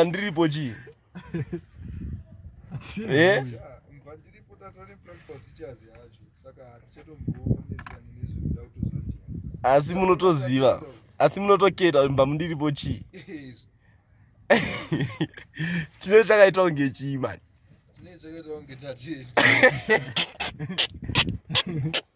ndiripo chii eh? asi munotoziva asi munotoketa kuti mba mundiripo chii chine chakaita kunge chii mani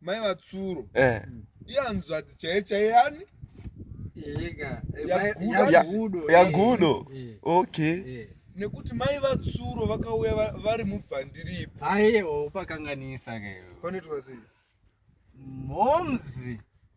mai vatsuro eh. iyanzvadzi chaiye chaiye yani yagudo eh. okay eh. nekuti mai vatsuro vakauya vari mubvandiripo aiwa upakanganisa kanoitwa sei momzi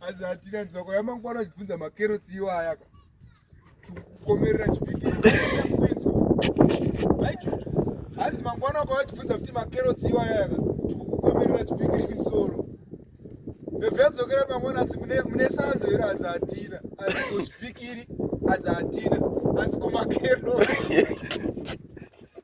Asi hatina nzoko yamangwana uchibvunza makerotsi iwaya ka. Tikukomerera chipiki. Vaichuchu. Hanzi mangwana kwa uchibvunza kuti makerotsi iwaya ka. Tikukomerera chipiki kimsoro. Vevedzokera mangwana hanzi mune mune sando here hanzi hatina. Hanzi kuchipikiri hanzi hatina. Hanzi kumakerotsi.